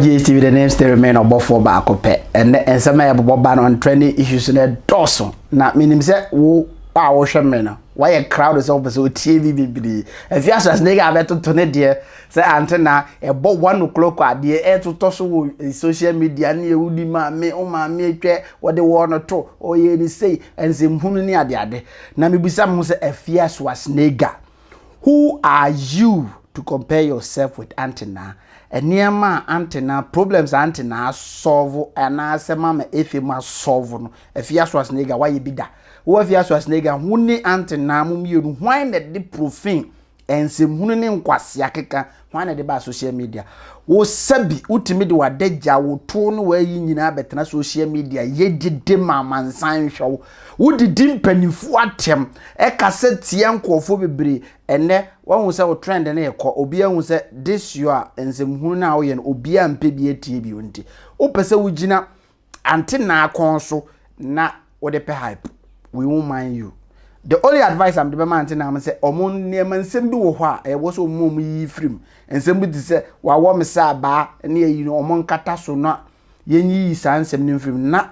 GHTV the name still remain ɔbɔfoɔ baako pɛ ɛnɛ nsɛm a yɛbobɔ ba no trending issues no ɛdɔɔso na menim sɛ wo a wohwɛ me no wayɛ crowd sɛ wopɛ sɛ wotie bi bebree afi asras ne ga bɛtoto ne deɛ sɛ ante na ɛbɔ one o'clock a deɛ ɛtotɔ so wɔ eh, social media ne yɛ wodi maame wo maame atwa wɔde wɔn no to ɔyɛ ne sei nsɛmhunu ne adeade na mebisa me ho sɛ afi asras ne ga Who are you to compare yourself with Aunty Naa? Nneɛma a Aunty Naa, problems a Aunty Naa asɔɔvo anaasɛ Mama Efe mu asɔɔvo no, Afia Schwarzenegger wayɛ bi da? Wo Afia Schwarzenegger, wo ne Aunty Naa mo mmienu hwan na ɛde profane, nsɛmhunu ne nkwasea keka Hwan na ɛde baa social media? Wo sɛbi wotumi de w'adagya, wo tow ne w'ayi nyinaa bɛtena social media yɛ dede ma amansan nhwɛ wo. Wodidi mpanyimfo atɛm, ɛkasa tia nkurɔfo bebree. Ɛnnɛ woahu sɛ wo trend no rekɔ, obiara ahu sɛ this your nsɛmhunu no a woyɛ no obiara mpɛ bi atie bio nti wopɛ sɛ wogyina Ante naa kɔn so na wode pɛ hype. We won't mind you. The only advice a mede bɛma ante naa no sɛ ɔmo nneɛma nsɛm bi wɔ hɔ a ɛwɔ sɛ ɔmo ɔmo yiyi firi mu. Nsɛm bi te sɛ wawɔ me sɛ abaa ne ayi no ɔmo nkata so na yɛnyiyi saa nsɛm no mfiri mu na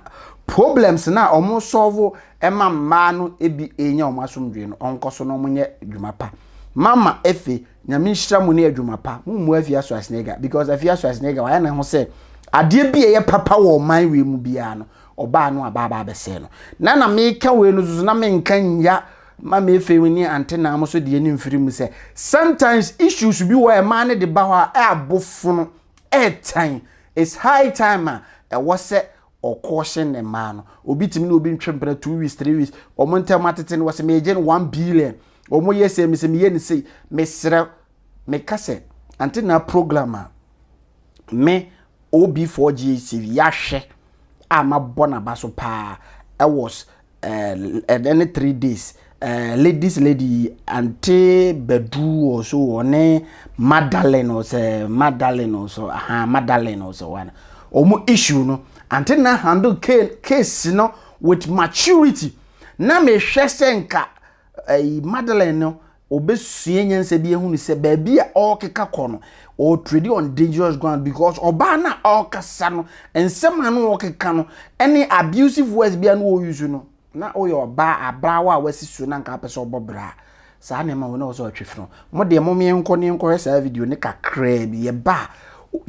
problems no a ɔmo sɔlvo ma mmaa no bi ɛnya ɔmo asomdwee no ɔnkɔ so na ɔmo nyɛ dwuma pa. Mama Efe. Nyame nhyira mo ne adwuma pa. Mo mmu Afia Schwarzenegger because Afia Schwarzenegger wayɛ ne ho sɛ adeɛ bi a ɛyɛ papa wɔ ɔman wei mu biara no ɔbaa no aba aba abɛsɛe no. Na na meka wei no soso na menka nya ma me afei mu ne ante naa mo so deɛ ne mfiri mu sɛ sometimes issues bi wɔ ɛmaa no de ba hɔ a ɛabofono ɛɛtan it's high time a ɛwɔ sɛ ɔkɔɔhyɛ ne mmaa no obi tumi ne obi ntwe mpena two weeks three weeks wɔn ntɛm atete no wɔsɛ megye no one billion wɔn yɛ sɛ mesɛ meyɛ ne sei mesrɛ meka sɛ ante na program a me OB4GHTV yɛahwɛ a mabɔ n'aba so paa ɛwɔ ɛɛ ne three days ɛɛ ladies lady ante badu wɔ so wɔ ne madalene wɔ sɛ madalene wɔ so aha madalene wɔ so wɔn wɔn issue no ante na handle case no with maturity na mehwɛ sɛ nka ɛyi madalene no. ɔbɛsua nyansa bi ahunu sɛ baabi a ɔrekeka kɔ no ɔretredi on dangerous ground because ɔbaa no a ɔrekasa no nsɛm a no ɔrekeka no ɛne abusive words bi a no ɔreuse no na ɔyɛ ɔbaa abraawa a wasi so na nka apɛ sɛ ɔbɔ bra saa na ɛma wɔn na wɔsɛ ɔtwe funu mo deɛ mo mmea nkɔ ne nkɔhwɛ saa video ne kakraa bi yɛba a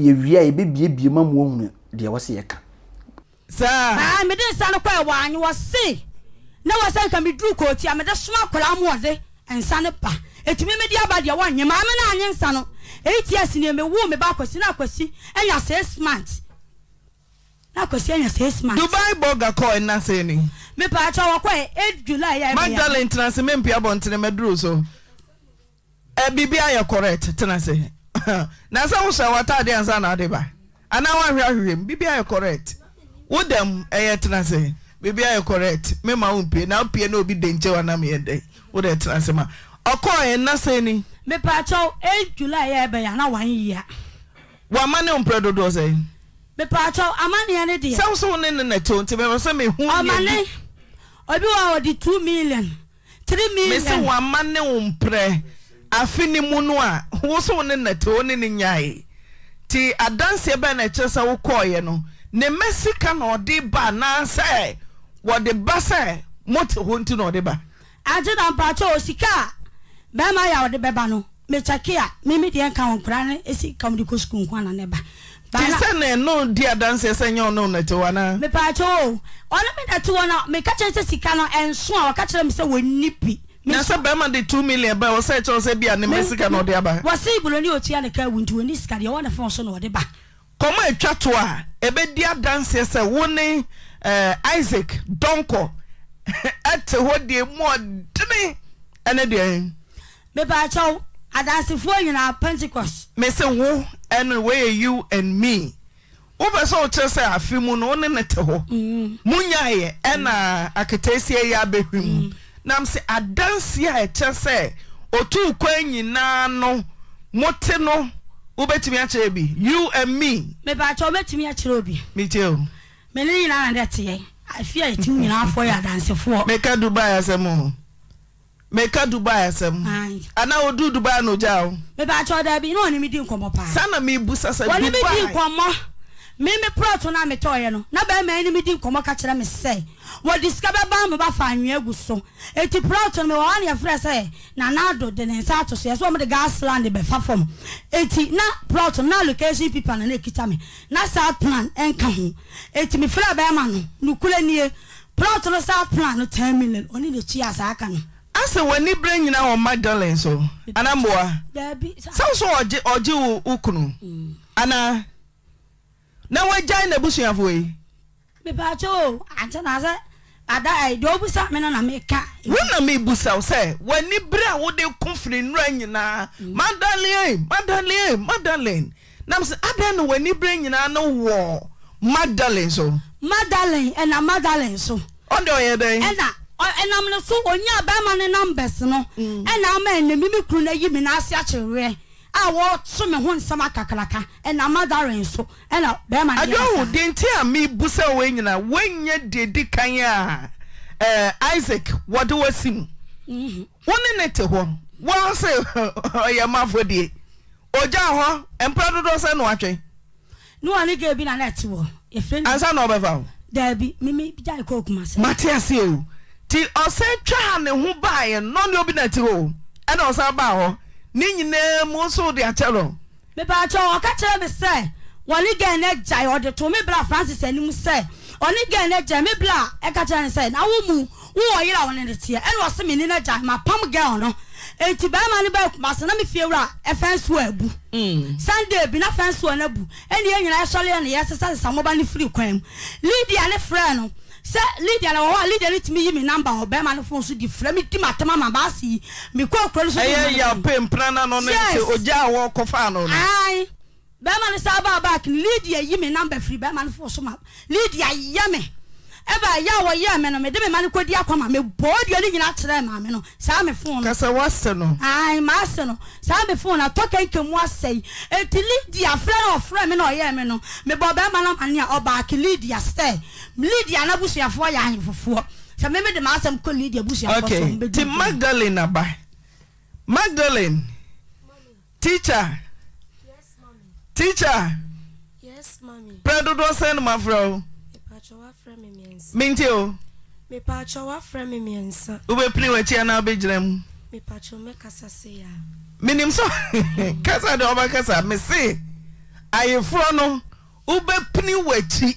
yɛwie a yɛbɛbiebie ma mo ahunu deɛ wɔsɛ yɛka Saa. Ae, mede nsa no kɔe, wɔannye, wɔse na ɛwɔ sɛ nka meduru kootu a mede soma akwadaa ma ɔde nsa no ba, ɛtumi mede aba deɛ wɔnnye, maame no annye nsa no, eight years nie, mewoo me ba Akwasi, na Akwasi anya six months, na Akwasi anya six months. Dubai Burger kɔe nna sɛn ni? Mepaakyɛw, wɔkɔe eight July a ɛbɛyɛ. Magdalene tena ase, mempue abɔntene, maduru so. Eh biribi ayɛ correct tena ase na sɛ wo sɛ w'ataade ansa na ade ba anaa w'ahwɛ ahwehwɛm biribi ayɛ correct wo dɛm ɛyɛ tena ase biribi ayɛ correct me ma wo mpie na wo pie na obi de nkyɛw anam yɛ dɛ wo dɛ tena ase ma ɔkɔɔ yɛ nna sɛ ni. Me pa kyɛw eh July yɛ ɛbɛ yɛ ana one year. Wa ma ne wo mpere dodoɔ sɛ yi. Me pa kyɛw ama neɛ ne deɛ. Sɛ wo sɛ wo ne ne na ɛtɛw nti me pɛ sɛ me hu neɛ bi. Ɔma ne obi wɔ a ɔde two million Mese wama ne wo mprɛ afe no mu no a wo so wo ne no te wo ne no nyae nti adanseɛ bɛn na ɛkyerɛ sɛ wo kɔɔeɛ no ne mma sika na ɔde ba anaasɛ wɔde ba sɛ mote hɔ nti na ɔde ba. Aunty na mpakyɛw sika a bɛɛma yɛ a ɔde bɛba no me kyɛke a me me deɛ nka ho nkoraa no sika ɔmo de kɔ sukuu nkoa na na ɛba Te sɛ nea ɛne wo di adanseɛ sɛ ɛnyɛ ɔne wo na ɛte hɔ anaa? Mepaakyɛw o, ɔne me na ɛte hɔ na meka kyerɛ no sɛ sika no ɛnso a, waka kyerɛ me sɛ wɔnni bi. Na sɛ barima de two million ba a, ɛwɔ sɛ ɛkyerɛ wo sɛ ebia ne mma sika na ɔde aba? Wɔse Buroni a ɔtua ne ka awu nti ɔnni sika, deɛ ɔwɔ ne fon so na ɔde ba. Kɔm a ɛtwa toɔ a ɛbɛdi adanseɛ sɛ wo ne Isaac Donkor te hɔ deɛ emu ɔdene ne deɛn? Mepaakyɛw, Adansefoɔ nyinaa, Pentecost. Me se wo ɛne wei yɛ you and me. Wo pɛ sɛ wo kyerɛ sɛ afe mu no wo ne no te hɔ. Mo nyaeɛ ɛna aketeesia yi abɛhwim. Na me se adanseɛ a ɛkyerɛ sɛ ɔtuu kwan nyinaa no mo te no wo bɛtumi akyerɛ bi? You and me. Mepaakyɛw, Mɛtumi akyerɛ obi. Me tie o. Me ne no nyinaa na nɛ teɛ. Afe a ɛti mu nyinaa foɔ yɛ adansefoɔ. Meka Dubai asɛm o. Meka Dubai asɛm. Ae. Anaa oduu Dubai na ogyaa wo? Mepakyɛw, dabi, na ɔne me di nkɔmmɔ paa. Saa na mebisa sɛ, Wɔne me dii Dubai. nkɔmmɔ. Me, me prɔto no a metɔeɛ no, na barima yi ne me di nkɔmmɔ ka kyerɛ me sɛ, wɔde sika bɛba ama ba fa anwea agu so. Enti prɔto no, mewɔ hɔ a na yɛfrɛɛ sɛ Nana Addo de ne nsa ato so. Yɛ sɛ wɔde gas land bɛfa fam. Enti na prɔto no, na allocation pipa na na ɛkita me. Na saa plan nka ho. Enti mefrɛɛ barima no, nokorɛ nie. Plot no saa plan no ten million ɔne de tua saa aka no. Asɛ wani brɛ nyina wɔ Magdalene so ana mboa sɛ wo so ɔgye ɔgye wo wo kunu ana na wagyae nabusuafo yi. Mepaakyɛw o ankyɛ na sɛ ada ɛyi deɛ ɔbusa me no na meka. Wo na mebusa wo sɛ wani bere a wode ko firi nnura nyinaa Magdalene Magdalene Magdalene. Na mese, Adɛn na w'ani berɛ nyinaa no wɔ Magdalene so? Magdalene, ɛna Magdalene so. Ɔno deɛ ɔyɛɛ dɛn? Ɛna, ɔ, ɛnam ne so ɔnyaa barima no numbers no, ɛna ama ɛnnɛ me me kunu no ayi me nan ase akyere weɛ a ɔɔto me ho nsɛm akakraka. Ɛna Magdalene so ɛna barima no yɛɛ saa. Adwoa o, deɛ nti a mebusa wo wei nyinaa, woannya deɛ ɛdi kan a, ɛɛ, Isaac wɔde wo asi mu. Wo ne no te hɔ, woaho se ɔyɛ m'afɔdie. Ogyaa hɔ mprɛ dodoɔ sɛn na watwɛn? Ne wɔ ne girl bi na na ɛte wɔ yɛfrɛ no. Ansa na ɔbɛfa wo? Daabi, me me gyae kɔɔ Kumasi. Mate aseɛ o. Nti ɔsan twa ha ne ho baeɛ na ɔne obi na ɛte hɔ o, ɛna ɔsan baa hɔ. Ne nyinaa mu wo nso wode akyɛ no. Mebaakyɛw, ɔka kyerɛɛ me sɛ wɔne girl no agyae, ɔde too me bra Francis anim sɛ ɔne girl no agyae, me bra ɛka kyerɛɛ no sɛ na wo mu Wo wɔ yere a wo ne no teɛ ɛna ɔse me ne no agyae mapam girl no enti barima no baa Kumasi na me fie wura ɛ fence wɔ abu Sunday bi na fence wɔ no abu ɛna yɛn nyinaa yɛsɔre yɛ no yɛ sesa sesa mo ba no firi kwan mu Lydia ne frɛ no sɛ Lydia na wɔ hɔ a Lydia ne tumi yi me number wɔ barima no phone so di frɛ me di matam ama baasi yi me kɔɔ kuro no so de me ma no kɔn Ɛyɛ yaw pɛn mpena na no no ne sɛ Yes! ogyaa wɔ kɔfaa no no. Aane. Bɛɛma no saa baa back no Lydia yi me number firi bɛɛma no fon so ma Lydia yɛ me ɛbaa ɛyɛ a wɔyɛɛ me no mede me ma no kɔdi akɔ ma me bɔɔ dua no nyinaa kyerɛɛ maame no saa me fon no Kasɛ wase no. Ae mase no saa me fon no atɔ kɛnkɛn mu asɛe enti Lydia frɛ no ɔfrɛɛ me na ɔyɛɛ me no me bɔɔ bɛɛma no amaneɛ a ɔback Lydia sɛ Lydia n'abusuafoɔ yɛ ahenfofoɔ sɛ me mede m'asɛm kɔ Lydia abusuafoɔ so a ɔmo bɛdi Okay nti nkunim. Magdalene aba Magdalene. Teacher Yes mommy Teacher Yes mommy Prɛ dodoɔ sɛn no mafrɛ wo Mepaatwɔ wafrɛ me miɛnsa Mentie o Mepaatwɔ wafrɛ me miɛnsa Wobɛpini wakyi anaa wobɛgyina mu Mepaatwɔ mɛkasa sei a Menim sɛ Kasa deɛ wobɛkasa Mese ayeforɔ no wobɛpini wakyi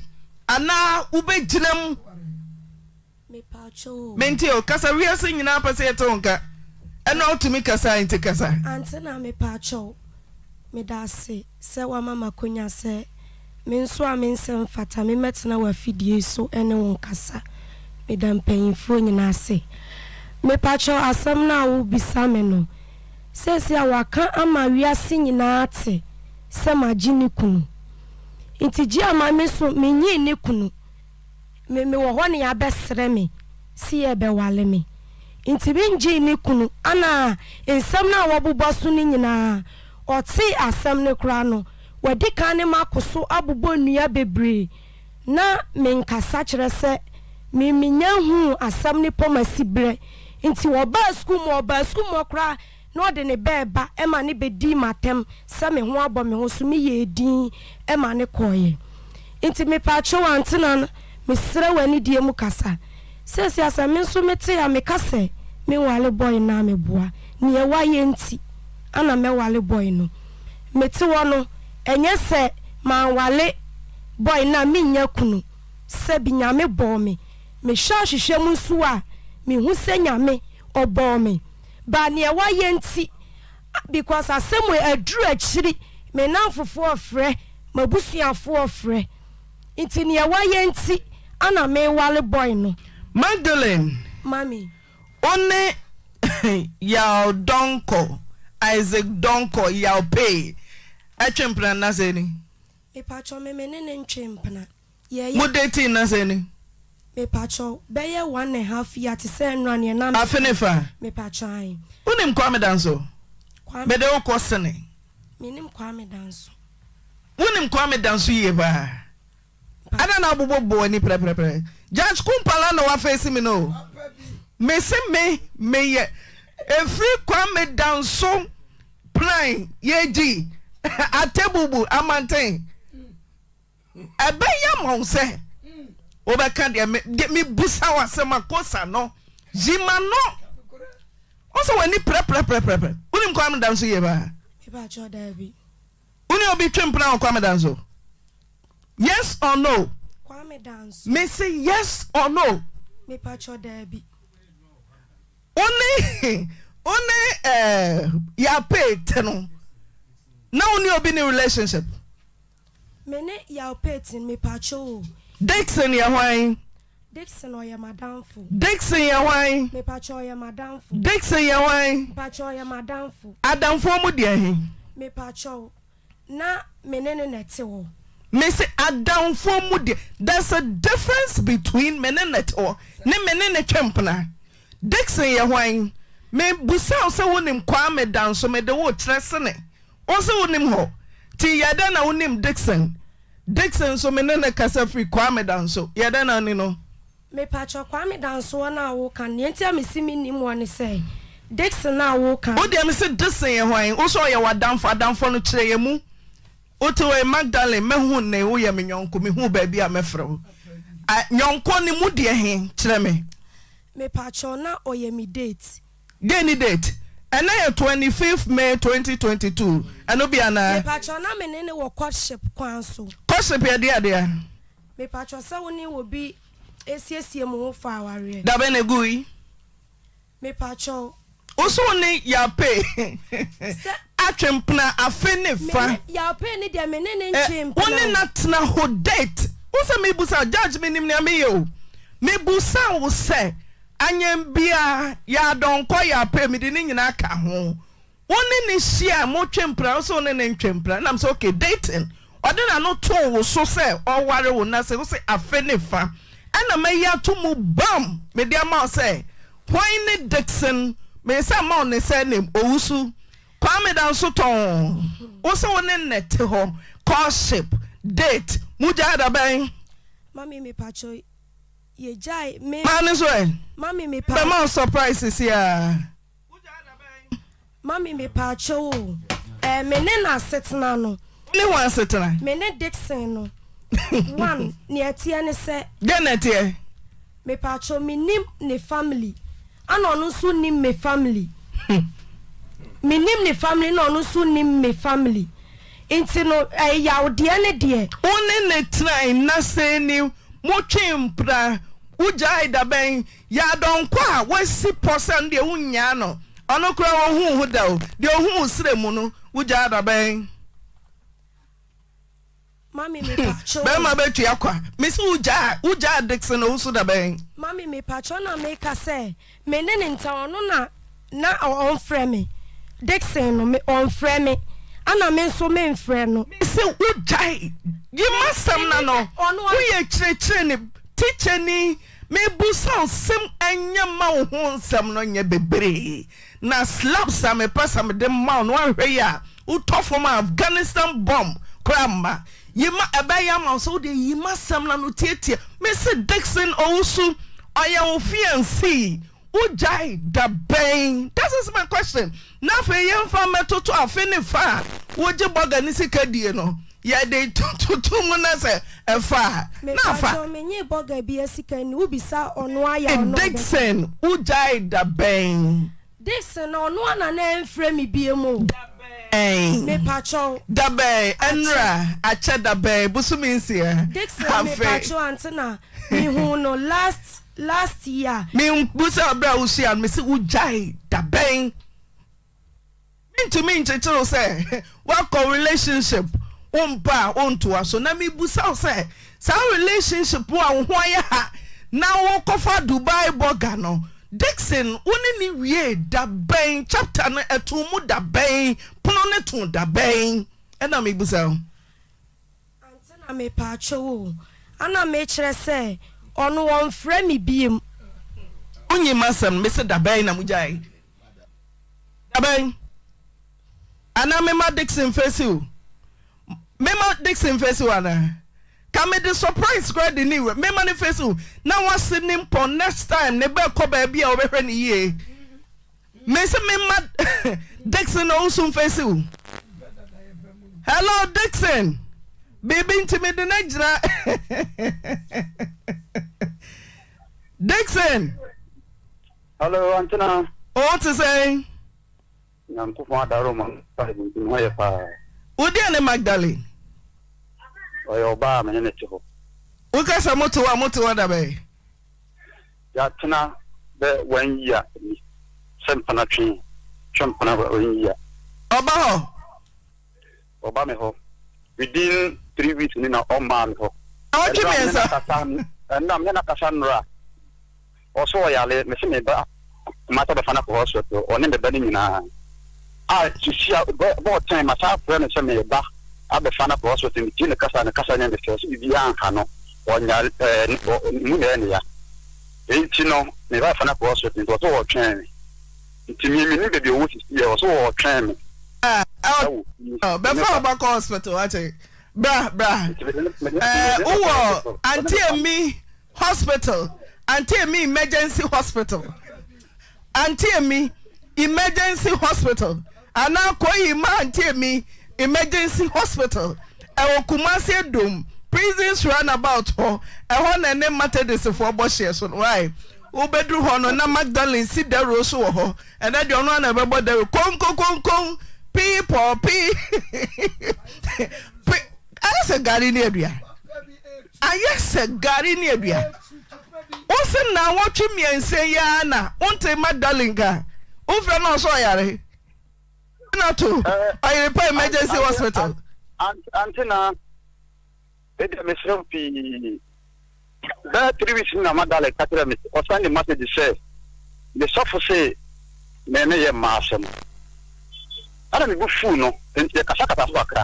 anaa wobɛgyina mu. Mepawkyɛw o. Mente o. Kasa wiase nyinaa pɛ sɛ yɛte wo nka. Ɛno a wotumi kasa a enti kasa. Antenna mepawkyɛw. Meda ase sɛ woama m'akonya sɛ me nso a me nsɛm fata me mɛtena w'afidie so ne wo nkasa. Meda mpanyinfoɔ nyinaa ase. Mepawkyɛw asɛm no a wobisa me no, seesei a wɔaka ama wiase nyinaa ate sɛ magye ne kunu. Nti gye a ma me nso menyii ne kunu. me mewɔ hɔ ne abɛsrɛ me se yɛɛbɛwale me nti me ngyee ne kunu ana nsɛm no a wɔbobɔ so no nyinaa ɔtee asɛm no koraa no wadi kan ne makoso abobɔ nnua bebree na me nkasa kyerɛ sɛ me menya huu asɛm no pɔ masi brɛ nti ɔbaa sukuu mu ɔbaa sukuu mu koraa na ɔde ne bɛ reba ma ne bɛdii m'atɛm sɛ me ho abɔ me ho so meyɛɛ dinn ma ne kɔeɛ nti mepaakyɛw Antena no mesrɛ wo anidie mu kasa seesei a sɛ me nso mete a meka sɛ menwale boy no a meboa neɛ wayɛ nti ana mɛwale boy no mete hɔ no ɛnyɛ sɛ manwale boy no a mennya kunu sɛbi Nyame bɔɔ me mehwɛ ahwehwɛ mu nso a mehu sɛ Nyame ɔbɔɔ me But neɛ wayɛ nti ah because asɛm wei aduru akyiri me nnamfofoɔ frɛ m'abusuafoɔ frɛ nti neɛ wayɛ nti ana mewale boy no. Magdalene Mummy. wo ne Yaw Donkor, Isaac Donkor, Yaw Pay, ɛtwe mpena nnasɛ ni? Mepakyɛw me me ne no ntwe mpena. Yɛyɛ. Mo dating na sɛn ni? Mepakyɛw, bɛyɛ one and a half year te sɛ nnora neɛ na me. Afe ne fa. Mepakyɛw ae. Wonim Kwame Danso? Kwame. Mede wo kɔ sene. Menim Kwame Danso. Wonim Kwame Danso yie paa? Mepakyɛw. Adɛn na wobobɔ bo ani prɛprɛprɛ? Judge Kumpala na wafeesi me no o. Mese me meyɛ ɛfiri Kwame Danso plan yɛgyi Atebubu Amanten. Ɛbɛya ma wo sɛ wobɛka deɛ me de mebusa wo asɛm a kosa no yi ma no ɔsɛ w'ani prɛprɛprɛprɛ wonim Kwame Danso yie paa wone obi twe mpena wɔ Kwame Danso yes or no me se yes or no wone wone eh, yɛapee te no na wone obi ne relationship Me ne Yaw Payton, mepakyɛw o. Dickson yɛ hwan? Dickson ɔyɛ m'adamfo. Dickson yɛ hwan? Mepakyɛw ɔyɛ m'adamfo. Dickson yɛ hwan? Mepakyɛw ɔyɛ m'adamfo. Adamfoɔ mu deɛ he? Mepakyɛw, na me ne no na ɛte hɔ. Mese adamfoɔ mu deɛ? There's a difference between me ne no te hɔ ne me ne no twe mpena. Dickson yɛ hwan? Me busa wo sɛ wo nim Kwame da nso me de wo kyerɛ sene wo se wo nim hɔ ti yɛ dɛn na wo nim Dickson? Dickson nso me ne no kasa firi Kwame da nso yɛ dɛn na wo ni no? Me pakyɛ Kwame da nsoɔ no a wo ka no deɛ nti a me se me nim wɔ ne sɛ Dickson no a wo ka no. Wo deɛ me se Dickson yɛ hwan? Wo se ɔyɛ w'adamfo, adamfoɔ no kyerɛ yɛ mu Wotewei Magdalene mɛhu nnei woyɛ me nyɔnko mehuu baabi a mɛfrɛ wo a nyɔnko ne mu deɛ he kyerɛ me. Mepakyɛw na ɔyɛ me date. Deɛ ne date? Ɛnnɛ yɛ twenty fifth May twenty twenty two ɛno bi anaa? Mepakyɛw na mene no wɔ courtship kwan so. Courtship yɛ deɛ deɛ? Mepakyɛw sɛ wone obi asiesie mo ho fa awareɛ. Dabe na egui. Mepakyɛw. Wo so wo ne Yaopee atwe mpena afe ne fa. Me ne Yaopee no deɛ me ne no ntwe mpena o. Wo ne no atena hɔ date. Wo sɛ me busa wo judge me nim nea me yɛ o. Me busa wo sɛ anyɛn biaa yɛ adɔnkɔ Yaopee me de ne nyinaa ka ho. Wo ne no hyia mo twe mpena wo se wo ne no ntwe mpena nam sɛ okay dating ɔde n'ano too wo so sɛ ɔware wo na sɛ wo se afe ne fa ɛna mayi ato mu bam mede ama wo sɛ hwan ne Dickson me nsa mma wo ne surname Owusu Kwame da nso tɔnn wo se wo ne nnɛ te hɔ courtship date mo gyae da bɛn Mami me pacho yɛ gyae me. Maa ne so ɛ. Mami me pa. Bɛma wo surprise siaa. Mami me paakyɛw o, ɛɛ me ne n'asetena no. Wo ne wɔn asetena? Me ne Dixon no. One, nea ɛteɛ ne sɛ. Dɛn na ɛteɛ? Me paakyɛw me nim ne family, ɛna ɔno nso nim me family. Me nim ne family na ɔno nso nim me family. Nti no ɛɛ yawdeɛ ne deɛ. Wo ne ne tena nna sɛn ni? Mo twe mpra? Wo gyae dabɛn? Yɛ adɔnkɔ a woasi pɔ sɛ ɔno deɛ wonnyaa no, ɔno koraa ɔhu wo ho da o, deɛ ɔhu wo serɛ mu no wogyaa da bɛn? Mami mepatwɔ o. Bɛrima bɛtua kwa. Mese wogyaa, wogyaa Dickson Owusu da bɛn? Mami mepatwɔ na meka sɛ me ne ne ntam ɔno na na ɔnfrɛ me, Dickson no me ɔnfrɛ me ɛna me nso menfrɛ no. Mese wogyae, yi m'asɛm no ano, woyɛ kyerɛkyerɛni, tikyani. Mebusa wo sɛm ɛnyɛ mma wo ho nsɛm no nyɛ bebree na slaps a mepɛ sɛ mede ma wo no anhwɛ yie a wo tɔ fam a Afghanistan bomb koraa mma yima ɛbɛyɛ ama wo sɛ wode ayima asɛm no ano tiatia me se Dickson Owusu ɔyɛ wo fiancee Wogyae da bɛn? That is my question. Na afei yɛmfa mmɛtoto afe ne fa a wogye bɔga ne sika die no. Yɛde toto mu na sɛ ɛfa a, na afa. Mepakyɛw, menyee bɔga bi asika nni. Wobisa ɔno a yɛ a ɔno a ɔbɛka. Dickson, wogyae da bɛn? Dickson, na ɔno a na na ɛmfrɛ me biom o. Da bɛn? Mepakyɛw. Da bɛn? Ɛnora, akyɛ da bɛn? Bosome nsia. Dickson, mepakyɛw, ante na mehuu no last. last year. Me busa bere a wo hyia no me se wo gyae da bɛn? Me ntumi nkyekyere wo sɛ wakɔ relationship wo mpa a wo ntoa so na me busa wo sɛ saa relationship wo a wo ho ayɛ ha na wo kɔfa Dubai burger no Dixon wo ne ne wie da bɛn chapter no ɛto mu da bɛn pono no to da bɛn ɛna me busa wo. Ante na mepakyɛw o. Ana mekyerɛ sɛ ɔno ɔnfrɛ me biom. Wonyi masɛm no mese dabɛn na mogyae dabɛn anaa mema Dickson face wo mema Dickson face wo anaa ka mede surprise koraa de ne wura mema no face wo na wase ne mpɔn next time no bɛkɔ baabi a wobɛhwɛ no yie. Mese me mma Dixon Owusu mfesi wo. Hello Dixon. Biribi nti mede no agyina. Dixon. Hello Antena. O te sɛn? Nyankopɔn adaro ma Bible nti ho yɛ paa. Wodeɛ ne Magdalene? Ɔyɛ ɔbaa me ne ne te hɔ. Wokasa mote hɔ a mote hɔ dabɛn? Yɛatena bɛ wɛn yia ni sɛ mpena twe twe mpena wɛn yia. Ɔba hɔ. Ɔba me hɔ within three weeks ni na ɔmaa me hɔ. Awɔtwe mmiɛnsa. Ɛnna me ne no akasa nnora ɔso ɔyale me se me ba. Kumase abɛfa no akɔ hospital, ɔne ne ba no nyinaa. A sisi a ɔbɔ bɔɔ tɛn ma saa frɛ no sɛ me ba abɛfa no akɔ hospital, me tie ne kasa a ne kasa nyɛ me fɛ, so biribi anha no, ɔnya ɛɛ ne ɔ ne mu na ɛyɛ ne ya. Wei nti no me ba bɛfa no akɔ hospital nti ɔse ɔretwɛn me, nti me mennim baabi ɔwɔ sisi a, ɔse ɔretwɛn me ɛwɔ fie. Oh, bɛfa wo ba kɔ hospital, wate, bra, bra, ɛɛ wowɔ auntie Mmi Hospital ante emi emergency hospital ante emi emergency hospital anaa Kohima ante emi emergency hospital ɛwɔ Kumasi Adom prisons roundabout hɔ ɛhɔ na ɛne Matedisfoɔ bɔ hyeɛ so no wae wobɛduru hɔ no na Magdalene si dawuro so wɔ hɔ ɛnɛ deɛ ɔno ara na ɛbɛbɔ dawuro konkokonkon pii pɔɔ pii pii ayɛ sɛ gari ne aduane. Ayɛ sɛ gari ne aduan. Wo se nnawɔtwe mmiɛnsa yi ara na wonte mma darling ka wofrɛ no ɔsɛ ɔyare na to ɔyere pa emergency hospital. Ante na ɛdeɛ mesrɛ wo pii bɛɛ three weeks na ma darling ka kyerɛ me ɔsan ne message sɛ me sɔfo se me ne yɛ mmaa asɛm ɛna me bu fuu no nti yɛkasakasa so kakra.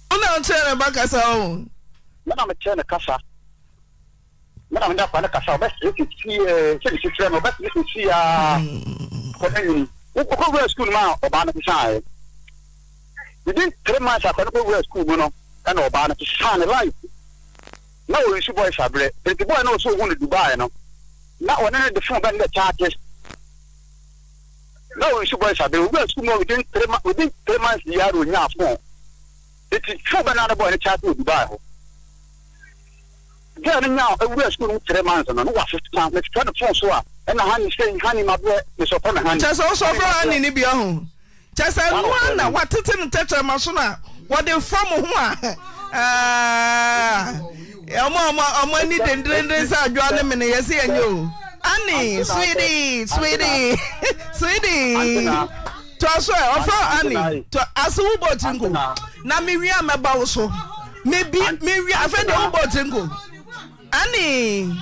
Wo na wokyerɛ ne ba kasa o. Me na mekyerɛ no kasa. Me na mede akwadaa no kasa, ɔbɛsere sisi ɛɛ, sɛ mesi frɛ no, ɔbɛsere sisi aa, akwadaa no nyini. Wokɔ wura sukuu no mu a, ɔbaa no sesaeɛ. Within three months akwadaa no kɔ wura sukuu mu no, ɛna ɔbaa no sesaa ne life. Na ɔresu boy sabrɛ, nti boy no ɔsɛ ɔhu no Dubai no, na ɔne no de phone bɛn dɛ charges. na ɔresu boys aber a owuraa skuul mu within three months within three months yi ara onyaa phone ntsi phone bɛn na no bɔɔ ne chat wɔ Dubai hɔ girl no nyaa owuraa skuul mu three months no no ɔasesa mefrɛ no phone so a nna honey sei honey mabrɛ mesɛ ɔfrɛ me honey Kyɛsɛ ɔsɛ ɔfrɛ honey no bia ho kyɛsɛ no ara na ɔatsetse no tɛkyerɛma so na wɔdze fa mo ho a aah. Ɔmo a ɔmo ɔmo ani denderenden sɛ adwoa ne mene yɛse yɛnyɛ o. Anne, sweetie, sweetie, sweetie. Toa so ɛ, ɔfrɛ Anne. Toa ase wo bɔ tiri nko. Na me wie a mɛba wo so. Me bi me wie afɛ deɛ wo bɔ tiri nko. Anne,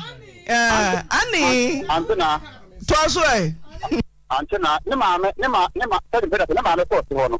ɛɛ Anne. Toa so ɛ. Ante na ne maame ne ma ne ma sɛde mpɛdɛ ne maame kɔɔ si hɔ no.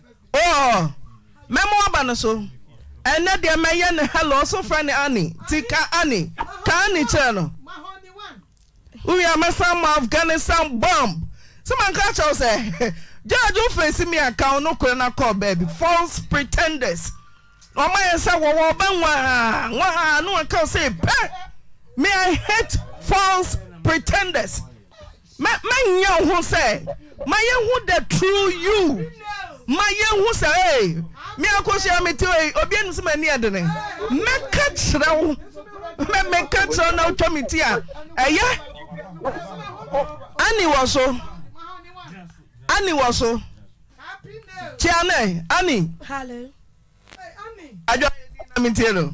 Oh mɛma waba no so ɛnɛ deɛ mɛyɛ no hello ɔso frɛ no Annie ti ka Annie ka Annie kyerɛ no wowie a mɛsan mo Afghanistan bomb sɛ manka kyɛw sɛ judge wo face me a ka wo no korɛ na kɔɔ baabi false pretenders ɔma yɛ sɛ wɔwɔ ɔbɛ nwaha nwaha ne wɔka wo sɛ pɛ me I hate false pretenders Mɛ mɛ nyɛ wo ho sɛ ma yɛ hu the true you ma yɛ hu sɛ ee me akosua me te ee obi anim sɛ ma ni ɛdene mɛ ka kyerɛ wo mɛ mɛ ka kyerɛ wo na wotwa me ti a ɛyɛ ani wɔ so ani wɔ so kyia nɛ ani adwa na me tie no.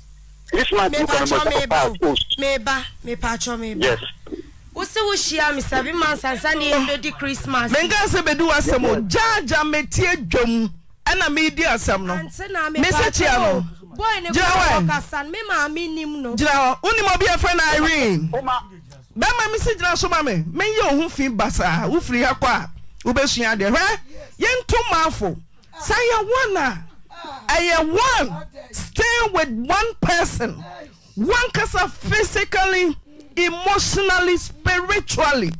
Mepatwɔ meba o, meba, mepatwɔ meba. Yes. Wosi wo hyia me seven months ansa ne yɛn bedi Christmas. Menka sɛ bedi w'asɛm o, gyaagya metie dwam ɛna medi asɛm no. Mese kyia no. Gyina hɔ ɛ. Gyina hɔ. Wonim obi a yɛfrɛ no Irene? Bɛma mese gyina so ma me, menyɛ wo ho fi basaa. Wofiri ha kɔ a, wobɛsua adeɛ. Hwɛ, yɛnto mafo. Sɛ yɛ one a, ɛyɛ one, staying with one person, wankasa physically, emotionally, spiritually,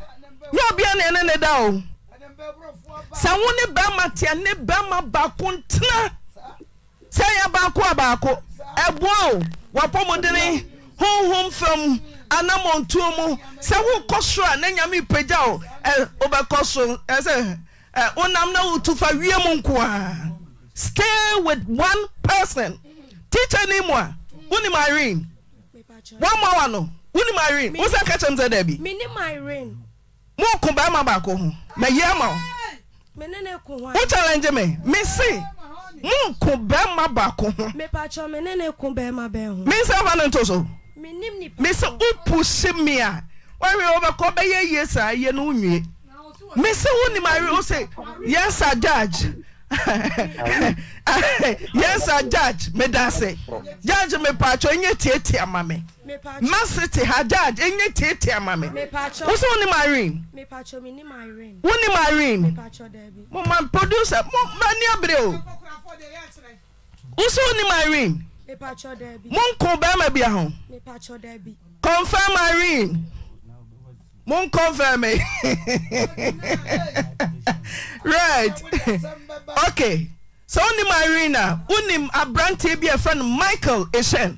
nyɛ obia na ɛne ne da o. Sɛ wo ne bɛrima te a, ne bɛrima baako ntena. Sɛ ɛyɛ baako a baako, ɛboa o, w'apɔmudene, honhom fam, anamɔntuo mu. Sɛ wokɔ soro a na Nyame repagya o, ɛ, wobɛkɔ so. Ɛsɛ. Ɛ onam na wotu fa wiem nko ara stay with one person teacher nim wa wonim irene wamma wa no wonim irene wo sɛ ka kyɛm sɛ daabi mo ko bɛrima baako ho mayi ama wo wo challenge me me se mo ko bɛrima baako ho me nsa fa no nto so me se wo push me a wɔhwɛ wɔbɛkɔ bɛyɛ yie saa yɛ no nwie mese wonim are o se yes a judge yes a judge meda ase judge mepatwɔ ɛnyɛ tietia ma me ma se te ha judge ɛnyɛ tietia ma me wo se wonim irene wonim irene moma producer mo mani abere o Wo so wonim Irene? Monko bɛrima bia ho. Confirm Irene. Mon confirm me. right. Okay. So wonim Irene a, wonim aberanteɛ bi a ɛfrɛ no Michael Eshen.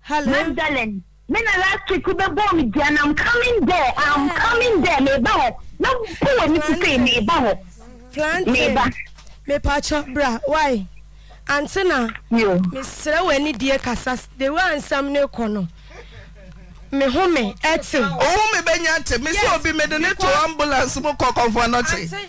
Hello. Magdalene, me na last week wo bɛ bɔɔ me dua na I'm coming there, I'm coming there, me ba hɔ, me bu wɔ ne sisei, me ba hɔ, me ba. Me pa kyɔ bra, why? Ante na, me srɛ wɔ ani die kasa, the way a nsɛm ne kɔ no, me ho me ɛte. Ohu me bɛ nya te, me se obi me de ne to ambulance mu kɔ kɔnfɔnɔkye.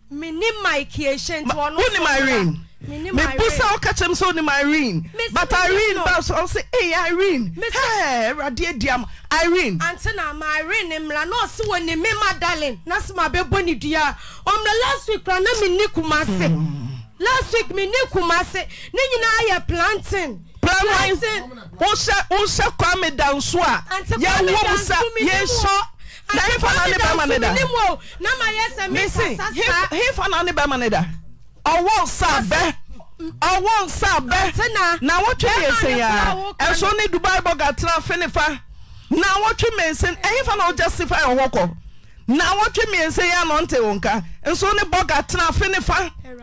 Mennim Mike Ehyɛ nti ɔno nso ɔmmra. Wonim Irene? Mebusa a ɔka kyerɛm sɛ onim Irene but Irene ba so a ɔse ei Irene hɛɛ awurade adi ama Irene. Ante na ma Irene mmra na ɔse wonim me Madalyn na se mabɛbɔ ne dua a ɔmmra last week koraa na menni Kumase last week menni Kumase ne nyinaa yɛ planting planting. Wohyɛ Kwame Danso a yɛwom sa yɛhyɛ. Na hefa na ne bɛrima no da? Mese hefa na ne bɛrima no da? Ɔwɔ nsa abɛ, ɔwɔ nsa abɛ. Na wɔtwe mmiɛnsa yi ara, ɛso ne Dubai bɔga tena fe ne fa. Na wɔtwe mmiɛnsa, ɛhefa na ɔjustify ɔhɔ kɔ? Na wɔtwe mmiɛnsa yi ara na ɔnte wo nka, nso ne bɔga tena fe ne fa.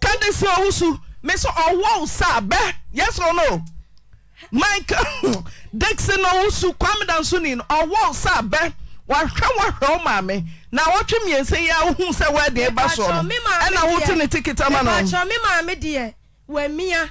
Ka de si owu so. Me so ɔwɔ wo sa bɛ yes or no. Mike Dixon owu so Kwame Dansoni no ɔwɔ wo sa bɛ wahwɛ wo ahwɛ wo maame na awɔtwe mmiɛnsa yi a wohu sɛ wɛɛden ba soɔ no ɛna wote ne ticket ama no. Mepaakyɛw me maame deɛ wamia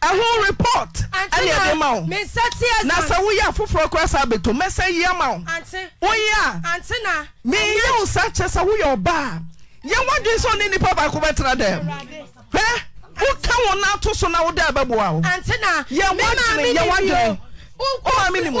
Ɛho report na yɛde ma wo. Na sɛ woyɛ a foforɔ koraa san bɛtom. Mɛsan yi ama wo. Woyɛ a menyɛ wo saa kyerɛ sɛ woyɛ ɔbaa a. Yɛ w'adwene sɛ ɔne nipa baako bɛtra dɛm. Hwɛ, woka wo nan to so na wo dɛɛ bɛboa wo. Yɛ w'adwene, yɛ w'adwene. Wo maame nim o.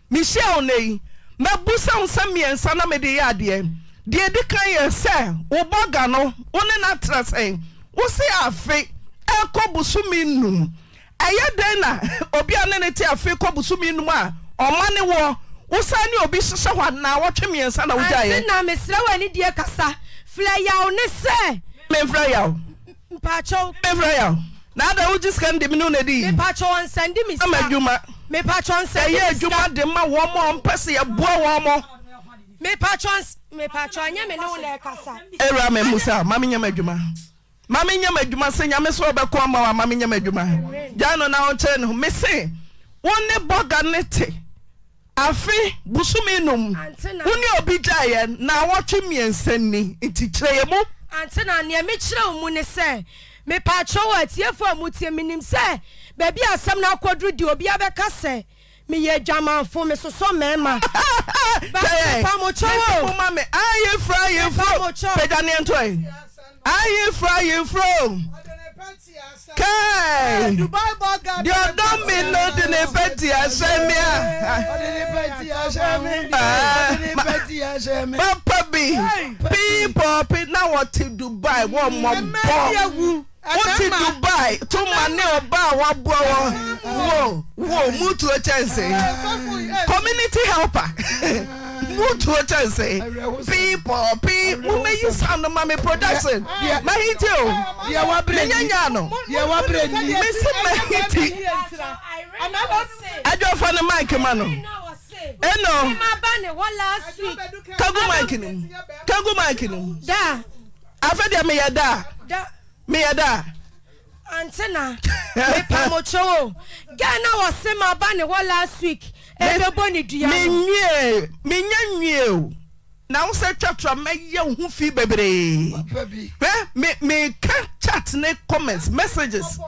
Mehyia wo nnɛ yi, mɛbusa wo nsɛm mmiɛnsa na mede yɛ adeɛ. Deɛ ɛdi kan yɛ sɛ, wo bɔga no, wo ne no atra sɛn? Wose afe rekɔ bosome nnum. Ɛyɛ dɛn na obi a ne no te afe rekɔ bosome nnum a ɔma ne woɔ, wosan ne obi hyehyɛ hɔ a, nnawɔtwe mmiɛnsa na wogyaeɛ? Ante na mesrɛ wo anidie kasa. Frɛ Yaw ne sɛ. Memfrɛ Yaw. Mpakyɛw. Mefrɛ yaw. Na adɛn wogye sika no de me ne wo na di? Mepakyɛw ɔnsan di me sika. Ama adwuma. Mepakyɛw ɔnsan di me sika. Yɛyɛ adwuma de ma wɔn a wɔpɛ sɛ yɛboa wɔn. Mepakyɛw ɔns mepakyɛw ɛnyɛ me ne wo na ɛkasa. Awuraa me mmu saa, ma me nyɛ m'adwuma. Ma me nyɛ m'adwuma sɛ Nyame sɛ ɔbɛko ama wo a ma me nyɛ m'adwuma. Gyae no na ɔnkyerɛ ne ho. Mese wo ne bɔga no te. Afe, bosome num, wo ne obi gyaeɛ naawɔtwe mmiɛnsa ni, nti kyerɛ yɛn mu. Antena, neɛ mekyerɛ wo mu ne sɛ, mepaakyɛw o, atiefoɔ a motie, menim sɛ baabi a asɛm no akɔduru deɛ obiara bɛka sɛ, meyɛ adwamanfo, mesosɔ mmarima. But mepaamokyɛw o. Mese moma me ayeforo ayeforo, pagya neɛnto ɛ, ayeforo ayeforo o. Kai! Deɛ ɔdɔ me no de ne pɛti ahyɛ me a. Papa bi pii pɔpi na wɔte Dubai wɔ mmɔbɔ. Wote Dubai to ma ne ɔba a waboa wɔ wo wo mutuo kyɛnse. Community helper. Mo tuo kyɛnse. Pii pɔɔ pii mo mɛ yi sound no ma me production mɛ hiti o me nyɛ nyaa no me se mɛ hiti adwo fa ne mic ma no eno ka gu mic no mu ka gu mic no mu afɛ deɛ meyɛ daa meyɛ daa. Antsena, mepamokyɛw o, girl na ɔse maba ne hɔ last week ebɛbɔ ne dua no. Menwie, mennya nwie o, na wo sɛ twa to a mɛyɛ wo ho fi bebree. Hwɛ, me, meka chat ne comments, messages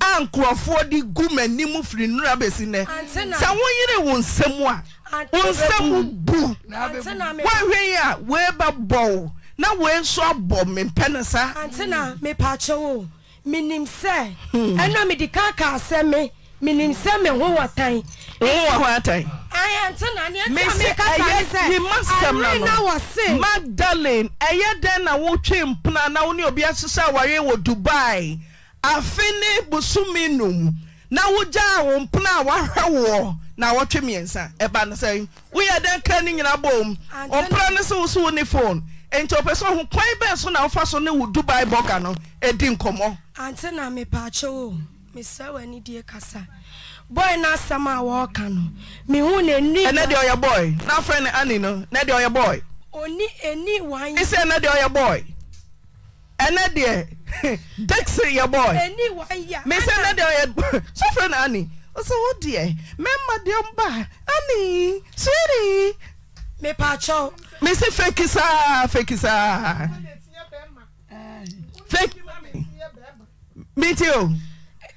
a nkorɔfoɔ de gu m'anim firi nnora bɛsi nnɛ. Sɛ wo yere wo nsam a. Wo nsa mu bu. Woanhwɛ yi a wei bɛbɔ wo na wei nso abɔ me mpɛ no saa. Antena mepaakyɛ wo menim sɛ ɛna medi kan kaa sɛ me menim sɛ me ho wɔ tan. Wo ho wɔ ho atan. Ayi antena nea ɛti a meka saa ne sɛ ɛmere na wɔ se. Magdalene ɛyɛ dɛn na wotwe mpena na wo ne obi ahyehyɛ aware wɔ Dubai Afe ne bosome nnum na wogyaa wo mpena a wahwɛ woɔ naawɔtwe mmiɛnsa. Ɛba no sɛn? Woyɛɛ dɛn kaa ne nyinaa boom? Wo mpena no se wo so wo ne phone nti ɔpɛ sɛ ɔhu kwan bɛn so na wofa so ne wo Dubai bɔga no di nkɔmmɔ. Ante na mepaakyɛw o, mesrɛ w'anidie kasa. Boy no asɛm a wɔreka no, mehu no ɛnni one. Ɛnɛ deɛ ɔyɛ boy. Na afrɛ no Annie no, ɛnɛ deɛ ɔyɛ boy. Ɔnni ɛnni one. Mese ɛnɛ deɛ ɔyɛ boy. Ɛnɛ deɛ Dixie yɛ boy. Ɛni wan ya Anna. Me sɛ ɛnɛ deɛ ɔyɛ sɛ frɛ no Annie. Ɔsɛ wo deɛ mɛma deɛ ɔmba Annie sweetie. Me pa kyɛw. Me se fake saa fake saa. Fake me ti o.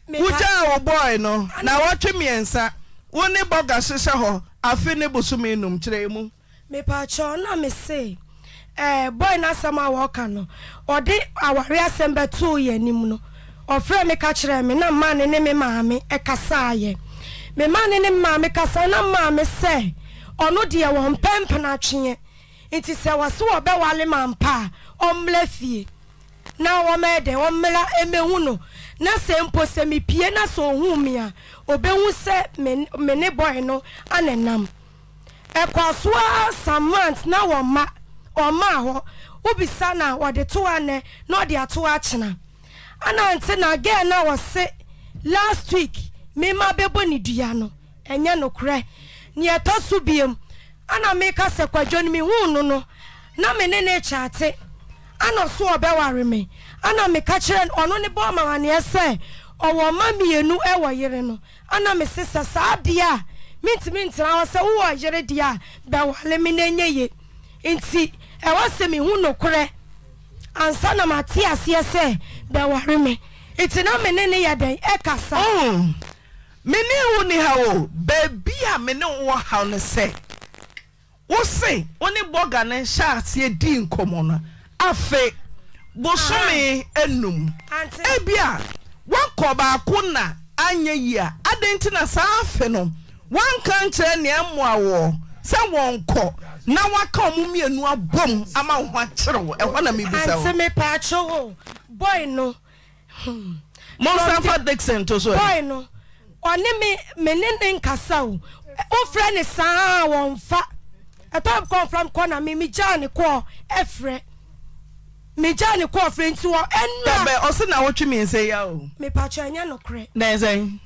Wogyaa wo boy no na wɔtwe mmiɛnsa wo ne bɔga hyehyɛ hɔ afe ne bosome num kyerɛ mu. Mepakyɛw na mese eh boy no asɛm a ɔɔka no ɔde aware asɛm bɛtoo yɛ anim no ɔfrɛɛ me ka kyerɛɛ me na mmaa ne ne me maame ɛkasaayɛ me maa ne ne me maame kasaayɛ na mmaa me sɛ ɔno deɛ wɔmpɛ mpenatweɛ nti sɛ wɔse wɔbɛwale ma mpa a ɔmmra fie na wɔmɛyɛ dɛn ɔmmra ɛmɛhu no na sɛ mpo sɛ mepie na sɛ ɔhuu me a ɔbɛhu sɛ me me ne boy no anenam. Ɛkɔa so ara some months na wɔn mma ɔmmaa hɔ, wo bisa no a wɔde to hɔ anɛ na ɔde ato hɔ akyena. Ana nte na girl no a ɔse last week me mma bɛbɔ ne dua no ɛnyɛ nokorɛ. Nea ɛtɔ so biom ana me ka sɛ kwadwo no me huu no no na me ne no chaate ana ɔse ɔbɛware me ana me ka kyerɛ no ɔno ne bɔɔ me amaneɛ sɛ ɔwɔ mma mmienu ɛwɔ yere no Ana mesesa saa deɛ a mentumi ntena hɔ sɛ wowɔ yere deɛ a bɛwale me na ɛnyɛ ye nti ɛwɔ sɛ mehu nokorɛ ansa na mate aseɛ sɛ bɛware me nti na me ne no yɛ dɛn ɛkasa. Oh me ne wo nni haw o baabi a me ne wo wɔ haw ne sɛ. Wo se wo ne bɔga no hyɛ aseɛ dii nkɔmmɔ no afe bosome nnum. Ebia woakɔ baako na anyɛ yie a, adɛn nti na saa afe no woanka ankyerɛ nea ɛmmoa woɔ sɛ wɔnkɔ na woaka wɔn mmienu abom ama wo ho akyere wo? Ɛhɔ na mebisa o. Aunty mepaakyɛw o, boy no Hmm. Monsan mfa Dixon to so ɛ. Boy no, ɔne me me ne ne nkasa o. Wofrɛ ne saa a wɔmfa. Ɛtɔ kɔ mfra me kɔ na me megyaa ne kɔɔ ɛfrɛ. Megyaa ne kɔɔ frɛ nti wɔ ɛnura. Dabɛ ɔse na wotwe me nsɛ ya o. Mepatwa ɛnyɛ nokorɛ. Dɛn sɛn.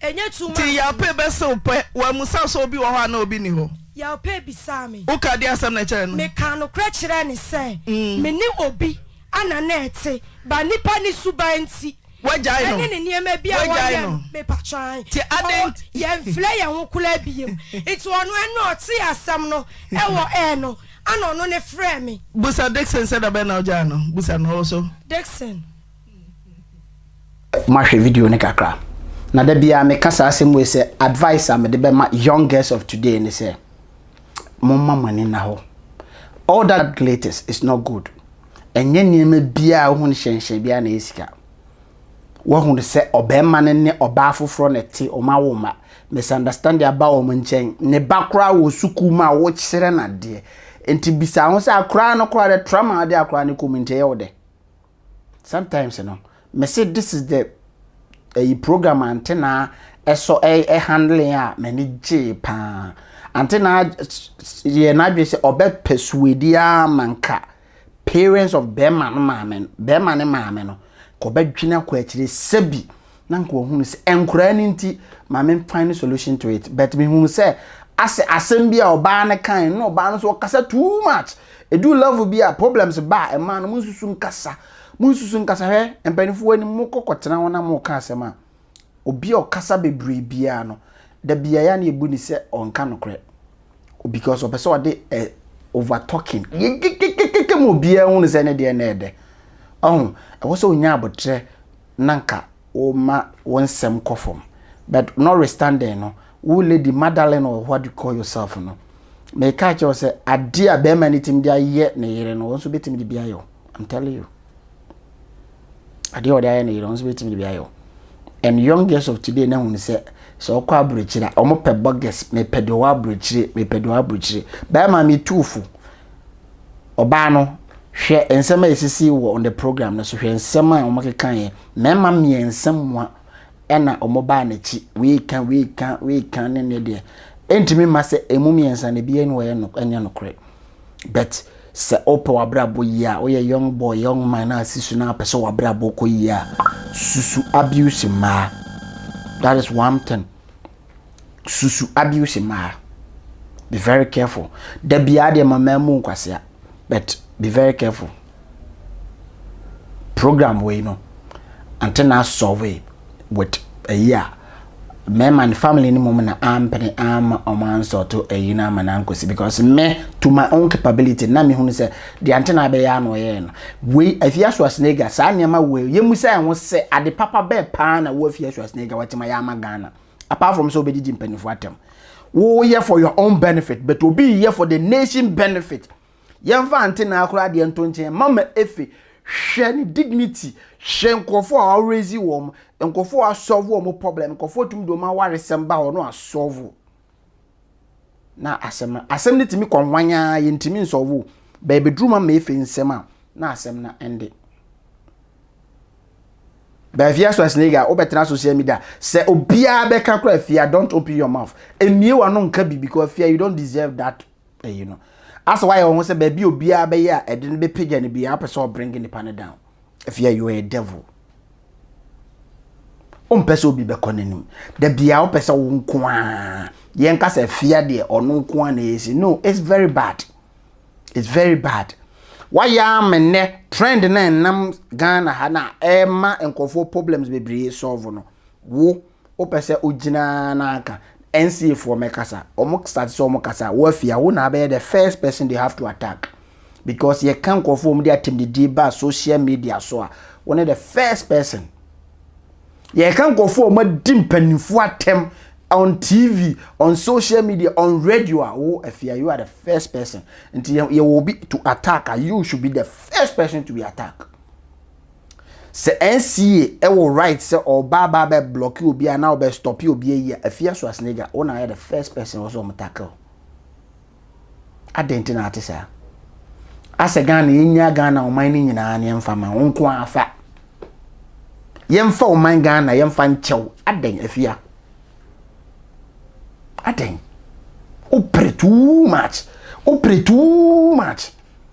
Ti Yaopei bɛse wo pɛ. Wammusa sɛ obi wɔ hɔ anaa obi nni hɔ. Yaopei bisaa me. Woka deɛ asɛm no ɛkyerɛ no. Mekaa nokorɛ kyerɛɛ no sɛ mene obi a na na ɛte ba nnipa ne suban nti ɛne ne nneɛma bi a wɔyɛ no mepakyɛw ae ɔɔ yɛnfrɛ yɛn ho koraa biem nti ɔno ɛno na ɔtee asɛm no ɛwɔ air no ana ɔno ne frɛɛ me. Busa Dickson sɛ dabɛn na wogyaa no? Busa no ɔwɔ so. Dickson. Mahwɛ video no kakra, na da biara meka saa asɛm wei sɛ advice a mede bɛma young girls of today ne sɛ, momma mo ani nna hɔ. All that glitters is not gold. Ɛnyɛ nneɛma biara a wohu no hyɛnhyɛn biara na ɛyɛ sika. Woahunu sɛ ɔbarima no ne ɔbaa foforɔ na ɛte, wɔn awo mma. Misunderstanding aba wɔn nkyɛn. Ne ba koraa wɔ sukuu mu a wokyerɛ no adeɛ. Nti bisa wo ho sɛ akwadaa no koraa dɛ, trauma a wode akwadaa no kɔ mu nti ɛyɛ wo dɛ? Sometimes no me se this is the ɛyi program antena ɛsɔ ɛyɛ handling a m'ani gyee paa antena yɛ n'adwene sɛ ɔbɛ persuade a manka parents of bɛrima no maame bɛrima ne maame no kɔbɛdwene akɔ akyire sɛbi. Na nka ɔhunu sɛ ɛnkoraa no nti ma me find solution to it but me hunu sɛ asɛ asɛm bi a ɔbaa no kae no na ɔbaa no so ɔkasa too much ɛduu level bi a problems ba a ɛmaa no mo nsusu nkasa mo nsusu nkasa hwɛ mpaninfoɔ anim mo kɔ kɔ tena hɔ na mo ka asɛm a obi a ɔkasa bebree biara no da biara yɛ na yɛbu ne sɛ ɔnka nokorɛ because ɔpɛ sɛ ɔde ɛ eh, over talking yɛkekekekeke ma obiara hunu sɛ ne deɛ na ɛdɛ ɔho ɛwɔ sɛ ɔnya abotrɛ na nka woma wo nsɛm kɔ fam but notwithstanding no wo lady Madalyn or what you call yourself no meka akyerɛ wo sɛ adeɛ a bɛrima no tumi de ayɛ ne yere no wo nso bɛtumi de bi ayɛ wo I'm telling you adeɛ a ɔde ayɛ ne yere wo nso bɛtumi de bi ayɛ wo and young girls of today na hunu sɛ sɛ ɔkɔ aburokyire a wɔpɛ bogus mepɛ deɛ ɔwɔ aburokyire mepɛ deɛ ɔwɔ aburokyire bɛrima metu fo Ɔbaa no, hwɛ nsɛm a esisii wɔ on the program no so, hwɛ nsɛm a wɔkekaeɛ. Mmarima mmiɛnsa mua na wɔbaa n'akyi, wei ka, wei ka, wei ka ne ne deɛ. Ɛntumi mma sɛ ɛmu mmiɛnsa no ebiara ni wɔyɛ no ɛnyɛ nokorɛ. But sɛ wopɛ w'abrabɔ yie a, woyɛ young boy, young man na asi so na apɛ sɛ w'abrabɔ kɔ yie a, susu abuse mmaa. That is one thing. susu abuse mmaa be very careful da biara deɛ ma mmaa mu nkwasea but be very careful program wei no ante na asɔve with ayi a mmarima ne family no mu na ampene ama ɔmo ansɔto ayi no ama no ankɔsi because me to my own capability na mehunu sɛ Deɛ nti na abɛyɛ ara na ɔyɛɛ no. Wei, Afia Schwarzenegger, saa nneɛma wei, yɛmmisa yɛn ho sɛ, ade papa bɛn pa ara na wo Afia Schwarzenegger watumi ayɛ ama Ghana? Apart from sɛ wobɛdidi mpanimfoɔ atɛm. Woyɛ for your own benefit, but obi reyɛ for the nation benefit. Yɛmfa Antenaa koraa deɛ nto nkyɛn, Mama Efe, hwɛ ne dignity, hwɛ nkurɔfoɔ a ɔraise wɔn, nkurɔfoɔ a wasɔɔvo wɔn problem, nkurɔfoɔ tumi de wɔn awaresɛm ba hɔ na wasɔɔvo. na asɛm no asɛm no tumi kɔ hwan ara yɛntumi nsɔvo baabi duru ma ma efe nsɛm a na asɛm no ɛnde baabi aso asiniga wobɛtena social media sɛ obiara bɛka kora afia don't open your mouth emie wano nka bi because afia you don't deserve that ayi no asɛ wayɛ wɔn ho sɛ baabi obiara bɛyɛ a ɛde no bɛpagya no biara wopɛ sɛ ɔbringe nipa no down ɛfia you are a devil wompɛ sɛ obi bɛkɔ n'anim da biara wopɛ sɛ wo nko a yɛnka sɛ afia deɛ ɔno nko a na ɛsi no it's very bad it's very bad wayɛ ama nnɛ trend na ɛnam ghana ha na ɛma nkurɔfoɔ problems bebree solve no wo Wopɛ sɛ ogyina na anka NCA foɔ mɛkasa ɔmo start sɛ ɔmo kasa a woafi a wo na abɛyɛ the first person they have to attack because yɛka nkorɔfoɔ ɔmo de atɛmdidie ba social media so a wo ne the first person yɛka nkorɔfoɔ ɔmo adi mpanimfoɔ atɛm on TV on social media on radio a wo afi a you are the first person nti yɛwɔ obi to attack a you should be the first person to be attack. Sɛ NCA wɔ right sɛ ɔba aba abɛ blocki obi a na ɔbɛ stoppi obi ayi a, Afia Swasnega wo na ayɛ the first person a ɛwɔ sɛ ɔmo tackle. Adɛn nti na ate saa? Asɛ Ghana yɛnyaa Ghana ɔman no nyinaa no yɛmfa ma wo nko ara fa. Yɛmfa ɔman Ghana yɛmfa nkyɛw. Adɛn Afia? Adɛn? Wopere too much. Wopere too much.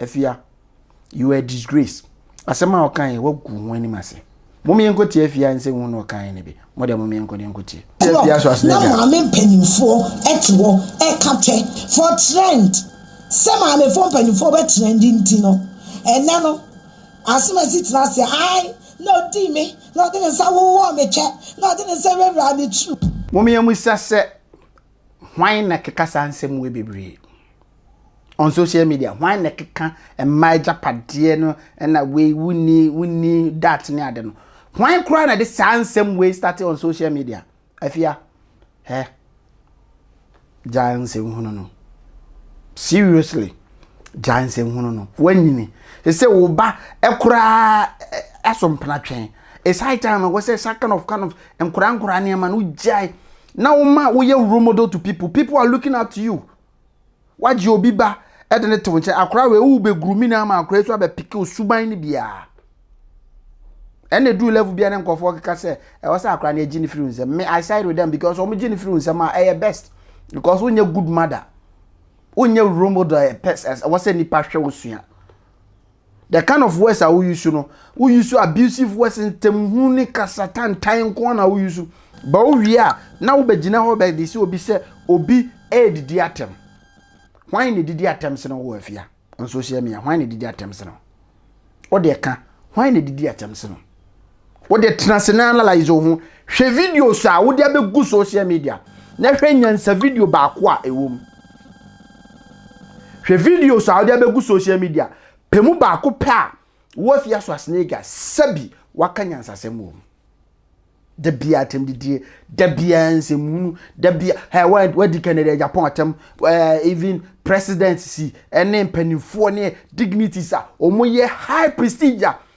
Afia, you are a disgrace. Asɛm a ɔkae yi, woagu ho anim ase. Mom yɛnkɔtie Afia nsɛ hu na ɔkae no bi. Mo deɛ mom yɛnkɔ ne nkɔtie. Clock na maame mpanyinfoɔ te hɔ ɛka kyɛ for trend sɛ maamefoɔ mpanyinfoɔ bɛ trend nti no ɛnɛ no Asomasi tena aseɛ ae na ɔdii me na ɔde ne nsa wowɔɔ me kyɛ na ɔde ne nsa wuraawuraa me turu. Mom yɛmmisa sɛ hwan na ɛkeka saa nsɛm wei bebree. on social media hwan na ɛkeka mmaa agyapadeɛ no ɛna wei wonni wonni dat ne ade no hwan koraa na de saa nsɛm wei starte on social media afia hɛ gyaa nsɛm hunu no seriously gyaa nsɛm hunu no wanyini ɛsɛ wo ba ɛkoraa ɛso mpena twɛn it's high time wɔ sɛ sa kind of kind of nkoraa nkoraa nneɛma no gyae na woma woyɛ role model to people people are looking at you Woagye obi ba de no to wo nkyɛn, akora wei wobɛgrumi no ama akora yi so abɛpeke wo suban no biara. Ɛna ɛduru level biara ne nkɔfoɔ keka sɛ ɛwɔ sɛ akora no agye no firi wo nsɛm. Me I side with them because wɔn gye no firi wo nsɛm a ɛyɛ best because wonyɛ good mother, wonyɛ role model ɛwɔ sɛ nipa hwɛ wo sua. The kind of words a wo use no, wo use abusive words ntamhunu ne kasa tantan nko na wo use. Ba wo wie a na wo begyina hɔ bɛ de sɛ obi sɛ obi ɛredidi atɛm. Hwan na edidi atɛm sene wo afia? On social media, hwan na edidi atɛm sene wo? Wo de ka, hwan na edidi atɛm sene wo? wode tena ase na analyze wo ho hwɛ videos a wode abɛgu social media na hwɛ nyansa video baako a ɛwɔ mu hwɛ videos a wode abɛgu social media pɛ mu baako pɛ a woafia so asenega sɛbi waka nyansasɛm wɔ mu da bia atɛm didie da bia nsɛmhunu da bia hey, wadi kɛnɛdɛ japan atɛm uh, even president si ɛne mpanimfoɔ ne dignities a wɔyɛ high prestige a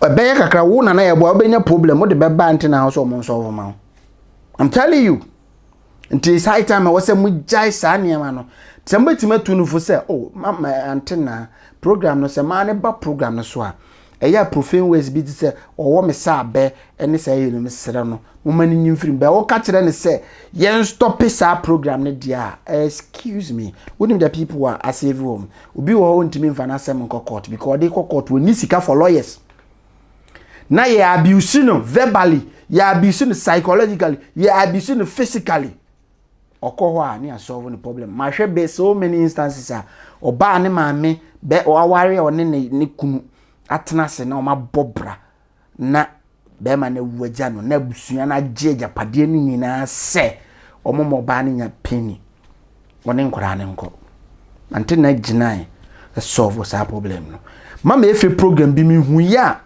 ɛbɛyɛ kakra wo nana yɛ boa wobɛnya problem wode bɛba nte na sɛ ɔmo nsɔfo ma wo i'm telling you nti saa time ɛwɔ sɛ mogyae saa nneɛma no sɛ mobɛtumi atu no fo sɛ o oh, mama ante na program no sɛ maa ne ba program no so a ɛyɛ a profane ways bi te sɛ ɔwɔ me sɛ abɛ ɛne saa yɛ no mesrɛ no moma no nyi mfirim bɛ woka kyerɛ ne sɛ yɛn stɔpe saa program no deɛ a excuse me wonim the people a asɛvi wɔm Obi wɔ hɔ ɔntumi nfa n'asɛm nkɔ court because ɔde kɔ court ɔnni sika for lawyers. Na yɛ abuse no verbally, yɛ abuse no psychologically, yɛ abuse no physically. Ɔkɔ hɔ a ne yɛ solve ne problem. Mahwɛ bɛ so many instances a ɔbaa ne maame bɛ aware a ɔne ne ne kunu atena ase na wɔabɔ bra na bɛrima no awu agya no na abusua no agye agyapadeɛ no nyinaa sɛ wɔn ma ɔbaa no nya penny wɔne nkwadaa no nkɔ nante na gyinae solve saa problem no mama efe program bi mi hu yi a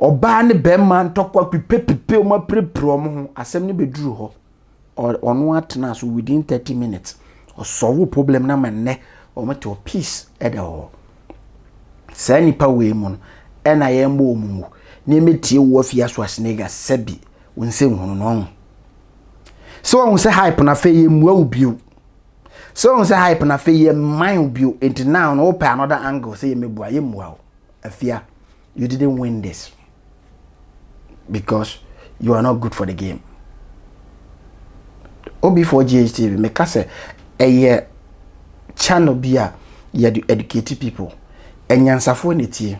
ɔbaa ne bɛrima ntɔkwa pipepipe wɔn apirepire wɔn ho asɛm no bɛduru hɔ. ɔno ara tenaa so within thirty minutes ɔsɔlvo problem na ma nnɛ wɔn te wɔ peace ɛda hɔ saa nipa wei mu no ɛna yɛn mbɔ wɔn mu na yɛn tie wɔ afi aso asenega sɛbi wɔn nsɛ nhunu no ɔho sɛ wɔn sɛ hype na afei yɛ mua wo bio sɛ wɔn sɛ hype na afei yɛ man wo bio nti naa wɔn pɛ another angle sɛ yɛ mebua yɛ mua wo afia You didn't win this because you are not good for the game. OB4GHTV, me ka sɛ ɛyɛ channel bi a yɛde educate people. Anyansafoɔ na etie.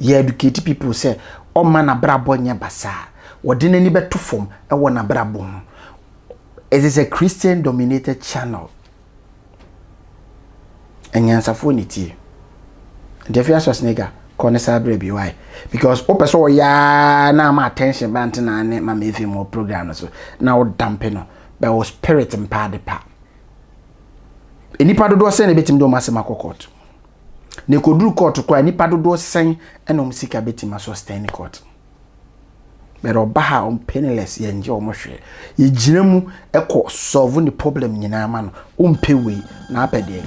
Yɛ educate people sɛ ɔma n'abrabɔ nyɛ basaa. Wɔde n'ani bɛto fam wɔ n'abrabɔ ho. It is a Christian dominated channel. Anyansafoɔ na ɛtie. Nti afei Schwarzenegger kɔ ne saa berɛ bi why because wopɛ sɛ ɔyɛ ara na ama attention ba nte na ne mama efi mu program no so na woda mpe no bɛ wo spirit mpa ade pa nnipa dodoɔ sɛn na ebɛtumi de wɔn asɛm akɔ court na ɛkɔduru court koraa nnipa dodoɔ sɛn ɛna wɔn sika bɛtumi asustain court But ɔba ha ɔm penniless yɛ ngye ɔmo hwee. Yɛ gyina mu ɛkɔ solve ne problem nyinaa ma no. Ɔmpɛ wei na apɛ deɛn?